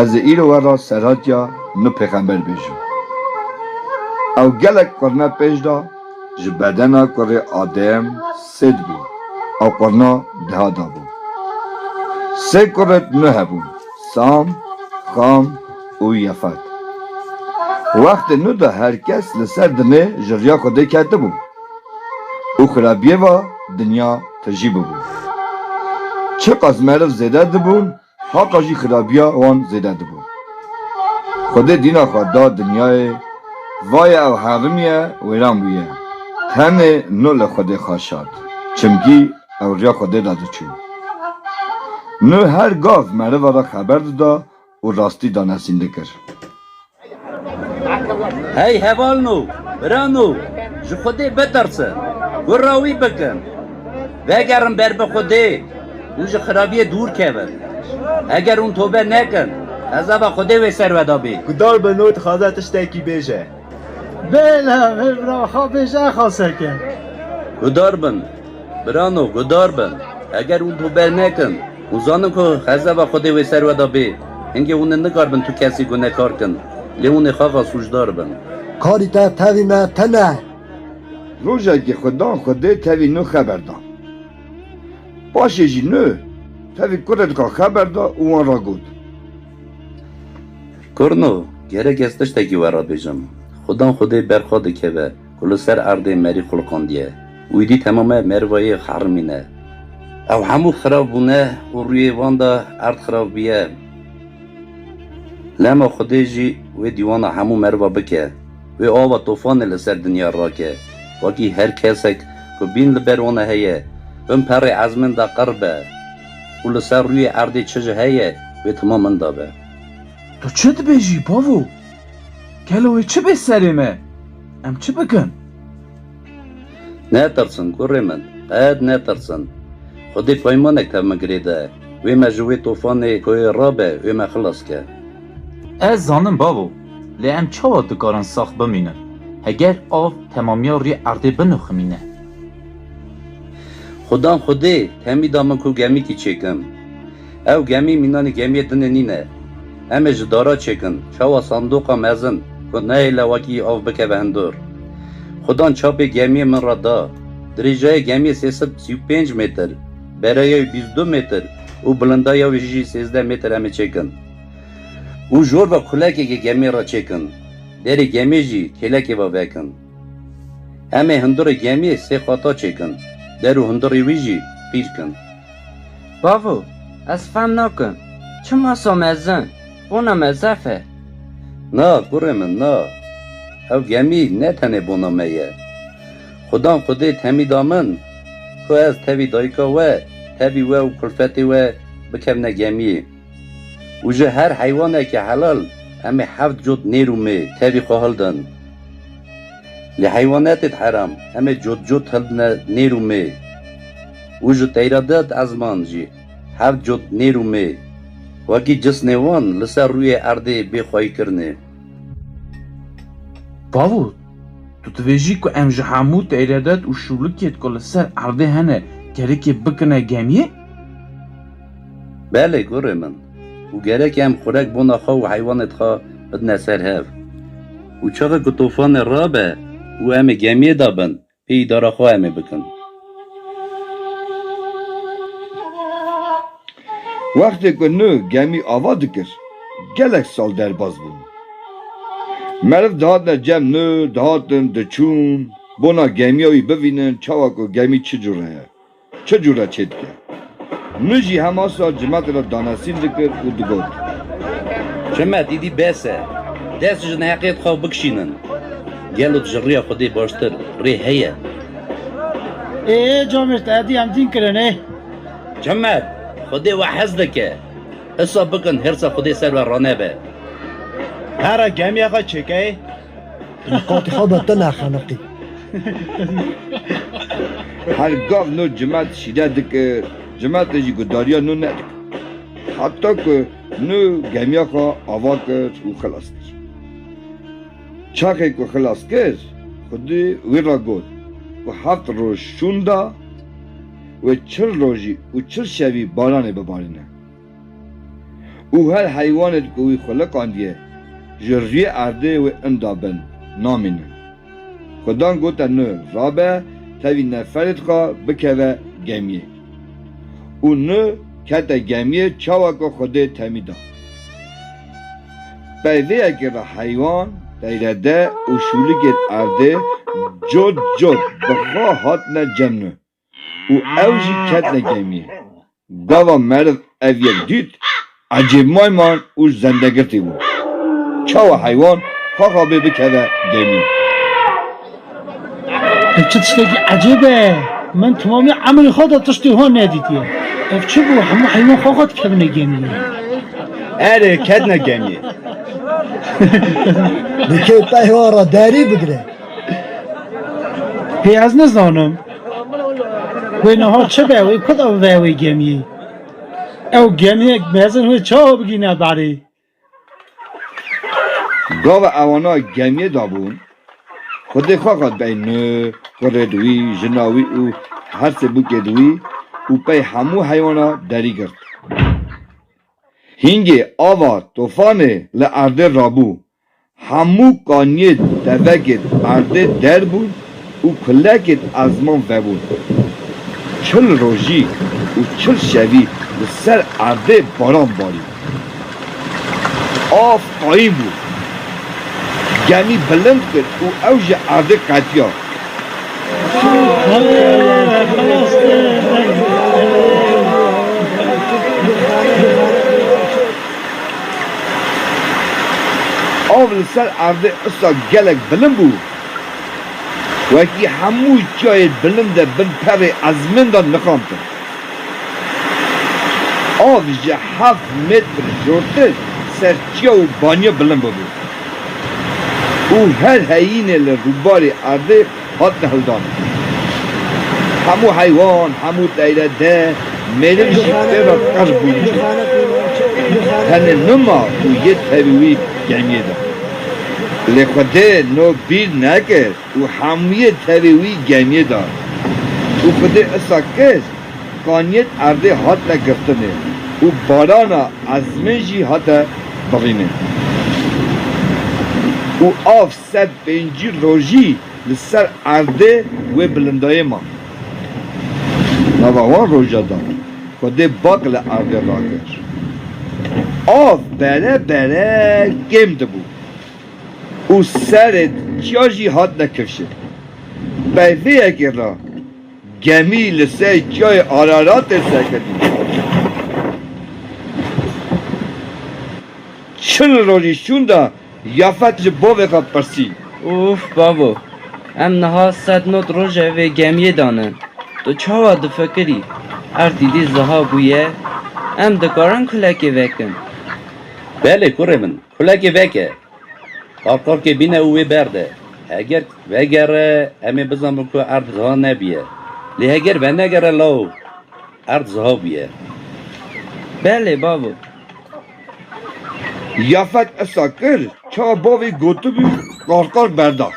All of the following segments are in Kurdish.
Ez ê îro we re serhatiya nu pêxember bêjim. Ew gelek qurne pêş da, ji bedena kurê Adem Sêt bû, ew qurna diha dabû. Sê kuret nu hebûn, Sam, Xam û Yefet. Wextê nu de her kes li ser dinê ji riya Xwedê ketibû. û xirabiyê ve dinya tijî bûbû. Çiqas meriv zêde dibûn heqa jî xirabiya wan zêde dibû. Xwedê dîna xwe da dinyayê, vaye ew herimiye wêran bûye. Tenê Nuh li Xwedê xaşat, çimkî ew riya Xwedê de diçû. Nuh her gav meriva re xeber dida û rastî danesîndin kir. Hey hevalno, birano, ji Xwedê bitirsin, gurra wî bikin, vegerin ber bi Xwedê û ji xirabiyê dûr kevin. Heger hûn tobe nekin, hezaba Xwedê wê ser we de bê. Guhdarbe no dixwaze tiştekî bêje. Bêle vê bira xwe bêje exa seke. Gudar bin, birano, gudar bin. Eger hûn tu ber nekin, hûn zanin ku xezeba Xwedê wê ser we de bê. Hingê hûn ê nikaribin tu kesî gunekar kin, lê hûn ê xaxa sûcdar bin. Karî te tevî me tene. Rojekê xwe dan Xwedê tevî nû xeber da. Paşê jî nû tevî kurê dikan xeber da û wan ra got. Kurno, gerek ez tiştekî we re bêjim. Xwedan xwedê ber xwe dikeve ku li ser erdê merî xulqandiye û êdî temame merivayê xerimîn e. Ew hemû xirav bûne û rûyê wan de erd xirav bûye. Lema xwedê jî wê dîwana hemû meriva bike. Wê ava tofanê li ser dinya rake. Wekî her kesek ku bîn li ber wan e heye. Bin perê ezmên de qir be. û li ser rûyê erdê çi jî heye wê tima min dabe. Tu çi dibêjî bavo? Gelo wê çi bê serê me? Em çi bikin? Netirsin kurê min, qet netirsin. Xwedê peymanek tev min girê de, wê me ji wê tofanê koyê rabe, wê me xilas ke. Ez zanim bavo, lê em çawa dikarin sax bimînin, heger av temamiya rûyê erdê biniximîne? Xudan xwedê temî da min ku gemîkî çêkim. Ew gemî mînanî gemîyê dinê nîne. Em ê ji dara çêkin, çawa sandoqa mezin ku neyê lewakî av bikeve hundur. Xudan çapê gemîyê min re da. Dirêjayê gemîyê sê sed sî û pênc mêtir, bereya wî bîst û du mêtir û bilindaya wî jî sêzdeh mêtir em ê çêkin. Û jor ve kulekekê gemîyê re çêkin. Derê gemîyê jî kêlekê ve vekin. Em ê hundirê gemiyê sê qata çêkin, der û hundirê wî jî qîr kin. Bavo, ez fehm nakim, çima so mezin, bona mezef e? Na, kurê min, na. Ew gemî ne tenê bona me ye. Xudan qudêt hemî da min, ku ez tevî dayika we, tevî we û kulfetê we bikevne gemiyê. Û ji her heywanekî helal em ê heft cot nêr û mê tevî xwe hildin. Lê heywanetêd heram em ê cot cot hildine nêr û mê. Û ji teyradêd ezman jî heft cot nêr û mê wekî cisnê wan li ser rûyê erdê bê xwayî kirnê. Bavo, tu dibêjî ku em ji hemû teyradêd û şûlikêd ku li ser erdê hene kerikê bikine gemiyê? Belê gurê min û gerek e em xurek bona xwe û heywanê dixwe bidine ser hev û çaxa ku tofane rabe û em ê gemiyê de bin pê îdara xwe em ê bikin. Wextê ku nu gemî ava dikir gelek sal derbas bûn. Meriv dihatine cem nu dihatin diçûn bona gemiya wî bivînin çawa ku gemî çi cure ye. Çi cûr re çê dike? Min jî hema sal Cimet re danesîn dikir û digot. Cimet, îdî bes e. Dest ji neheqiyê dixwe bikişînin. Gelo ji rêya Xwedê baştir rê heye? Ê ê Cimet, êdî em dîn kirin ê. Cimet, Xwedê we hez dike. Hisa bikin hêrsa Xwedê ser we ranebe. Here gemiya xwe çêkeyê. Qatî xwe be te nexeniqî. Her gav nû cimet şîre dikir, cimetê jî gudariya nû nedikir. Heta ku nû gemiya xwe ava kir û xilas kir. Çaxê ku xilas kir, xwedî wî re got ku heft roj şûnda wê çil rojî û çil şevî baranê bibarîne. Û her heywanê di ku wî xwiliqandiye ji rûyê erdê wê inda bin, namînin. Xudan gote nu rabe tevî neferê dixwe bikeve gemiyê. Û nu kete gemiyê çawa ku Xwedê temî da. Pey vê yekê re heywan, teyrede û şûlikên erdê cot cot bi xwe hatine cem nu. û ew jî ketine gemiyê. Gava meriv ev yek dît, ecêb mayman û zendegirtî bû. Çawa heywan xaxa bê bikeve gemiyê? Ev çi tiştekî ecêb e! Min temamî emrê xwe de tiştê wan nedîtiye. Ev çi bû, hemû heywan xaxa dikevine gemiyê? Erê, ketine gemiyê. Dikê peyva re derî bigire. Hê ez nizanim. Wê niha çi be wê ku ve wê gemiyê. Ew gemiyek mezin wê çawa bigîne berê. Gava ewana gemiyê de bûn xwedê xwe xwed bey ni kurê di wî, jina wî û her sê bûkê di wî û pey hemû heywana derî girt. Hîngê ava tofanê li erdê rabû Hemû kaniyên tevegên erdê derbûn û kulekên ezman vebûn. Çil rojî û çil şevî li ser erdê baran barî. Av qayîm bû. Gemî bilind kir û ew ji erdê qetiya. Av li ser erdê usa gelek bilind bû. Wekî hemû çiyayê bilind e bin perê ezmên de niqantin. Av ji heft metr jortir ser çiya û baniya bilind bûbû û her heyînê li rûbarê erdê hatine hildan. Hemû heywan, hemû teyre de mêrik jî tê de qirr bûn jî tenê nima û yê tevî wî gemiyê da. Lê Xwedê no bîr nekir û hemûyê tevê wî gemiyê da. Û Xwedê issa kir, kaniyên erdê hatine girtinê û barana ezmên jî hate birînê. Û av Sed pêncî rojî li ser erdê wê bilindayê man. Nava wan roja da ku dê bak li erdê rakir. Av bere bere kêm dibû û serê diçiya jî hatine kirşin. Peyvêyekê re gemî li ser çiyayê Araratê serketî. Çil rojî şûnde Yafet ji bavê xwe pirsî. Ûf bavo, em niha sed not roje vê gemiyê dane, tu çawa difekirî? Erd îdî ziha bûye, em dikarin kulekê vekin? Belê kurê min, kulekê veke. Qarqarkê bîne û wê berde. Heger vegere, em ê bizanin ku erd ziha nebûye. Lê heger venegere law, erd ziha bûye. Belê bavo. Yafet esa kir çawa bavê gotibû qar qar berda.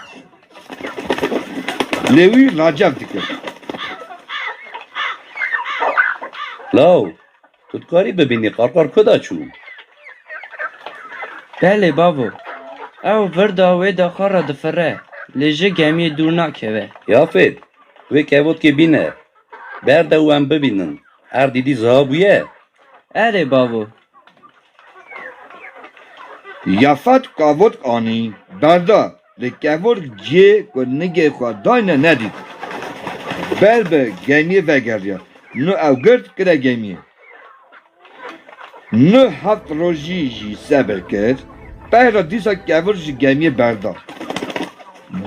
Lê wî racef dikir. Law, tu dikarî bibînî qar qar ku da çû? Belê bavo, ew vir da wê da qar re difire lê ji gemiyê dûr nakeve. Yafet, wê kevotkê bîne berda û em bibînin erdî dî ziha bûye. Erê bavo. Yafet kavotk anî berda lê kevork ciyê ku nigê xwe dayne nedît. Ber bi gemiyê vegeriya. Nu ew girt kire gemiyê. Nu heft rojî jî sebir kir. Peyra dîsa kevork ji gemiyê berda.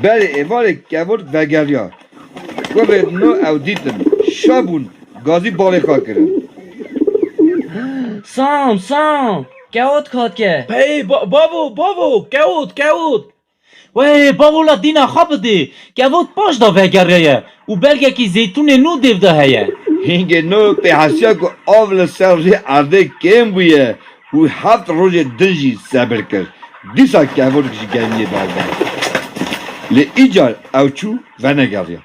Berê êvarê kevork vegeriya. Ku vê din o ew dîtin şa bûn gazî balê xwe kirin. Sam, Sam, kewt katke. Pey, bavo, bavo, kewt, kewt. Wey, bavo la dîna xwe bidê. Kewt paş de vegereye û belgekî zeytûnê nû dêv de heye. Hingê no pê hesiya ku av li ser rê erdê kêm bûye. Û heft rojê din jî sebir kir. Dîsa kevolik ji geliyê berdana. Lê îcar ew çû venegeriya.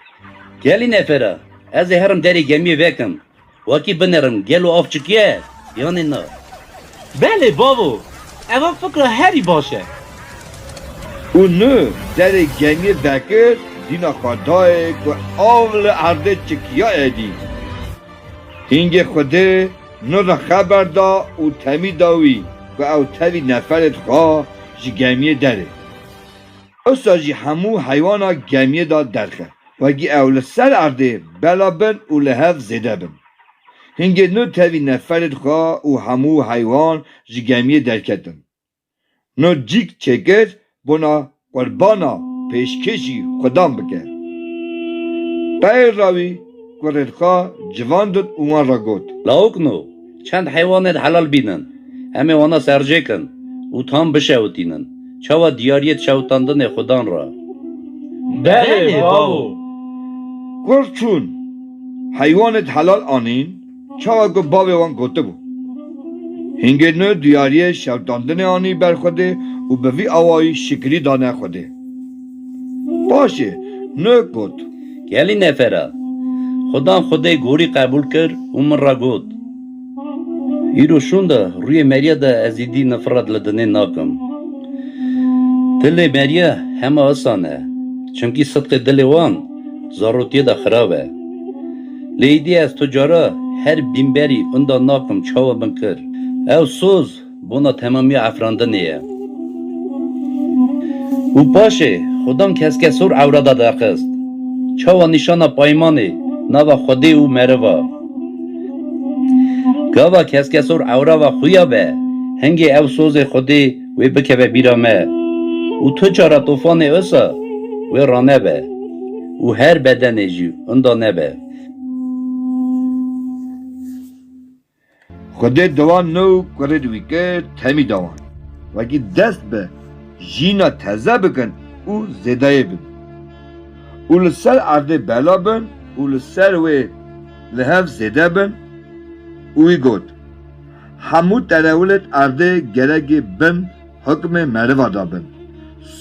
Gelî nefera, ez ê herim derê gemiyê vekim. Wakî binerim, gelo av çikiye yanê na? Belê bavo, eva fikra herî baş e. Û ni derê gemiyê vekir, dîna xwe dayê ku av li erdê çikiya edî. Hîngê xwedê. Nirna xeber da û temî da wî ku ew tevî neferê dixwe ji gemiyê derê. Usa jî hemû heywana gemiyê da derxe wegî ew li ser erdê bela bin û li hev zêde bin. Hingê nû tevî neferê dixwe û hemû heywan ji gemiyê derketin. No cîk çêkir bona qurbana pêşkêşî xwedan bike. Peyr ra wî kurên xwe civan din û wan re got. Lawik no çend heywanên helal bînin, em ê wana serjêkin û tam bişewitînin. Çawa diyariyê di şewitandinê xwedan re? Belê bavo! Kur çûn, heywanên helal anîn. Çawa ku bavê wan gotibû, Hingê nû diyariyê şewitandinê anî ber Xwedê û bi vî awayî şikirî dane Xwedê. Paşê nû got. Gelî nefer a. Xwedan Xwedê gorî qebûl kir û min re got, Îro şûnde rûyê Merîya de ez îdî nifret li dinê nakim. Dilê Merîya hema isan e. Çimkî sidqê dilê wan zarotiyê de xirab e. Lê îdî ez tu cara her bînberî inda nakim çawa min kir. Ew soz bona temamiya efrandinê ye. Û paşê Xudan keske sor ewra de derxist. Çawa nîşana paymanê nava Xwedê û meriva. Gava keske sor ewra ve xuya be, hingê ew sozê Xwedê wê bikeve bîra me û tu çara tofanê wisa wê ranebe û her bedenê jî winda nebe. Xwedê dewan no û kurê di wî kir temî dewan. Wekî dest bi jîna teze bikin û zêdeyê bin û li ser erdê bela bin û li ser wê li hev zêde bin û wî got, hemû terewlên erdê geregî bin hukmê meriva da bin.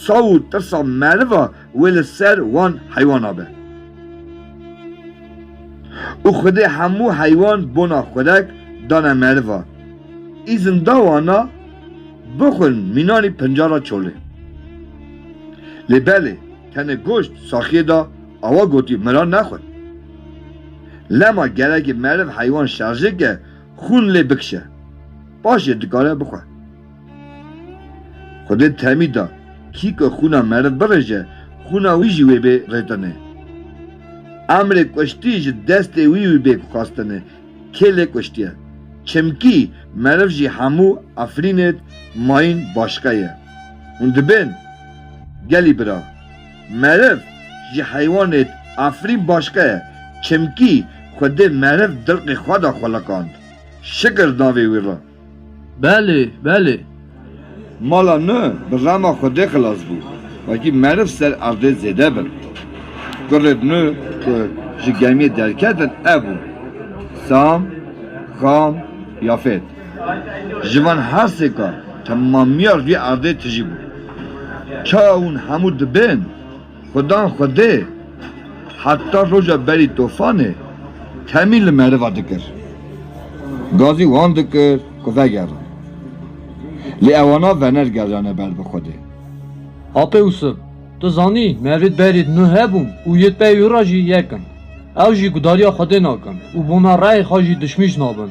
Saw û tirsa meriva wê li ser wan heywana be. Û xwedê hemû heywan bona xurek dane meriva. Îzin da wana bixwin mînanî pinca ra çolê. Lê belê tenê goşt saxiyê da awa gotî min ra nexwe. Lema geregî meriv heywan şerjê ke Xûn lê bikişe, paş jê dikare bixwe. Xwedê temî da, kî ku xûna meriv birêje, xûna wî jî wê bê rêtinê. Emrê kuştî ji destê wî wî bê xwestinê, kê lê kuştiye. Çimkî meriv jî hemû Efrînêd mayîn başiqe ye. Hûn dibên? Gelî bira. Meriv ji heywanêt afirîn başka ye çimkî xwedê meriv dilqê xweda xweliqand. Şikir davê wî re. Belê, belê. Mala nu bi rema xwedê xilas bû. Wekî meriv ser erdê zêde bin. Kurrêd nu ku ji gemiyê derketin ev bûn, Sam, Xam, Yafêt. Ji van hersêkan temamiya vî erdê tijî bû. Ka hûn hemû dibên xwedan xwedê heta roja berî tofanê temî li meriva dikir. Gazî wan dikir ku vegerin. Lê ewana venergeriyane ber bi xwedê. Apê Ûsip, tu zanî mevîd berîd nû hebûn û yê pey wî re jî yek in. Ew jî gudariya xwedê nakin û bona reyê xwe jî dişmîş nabin.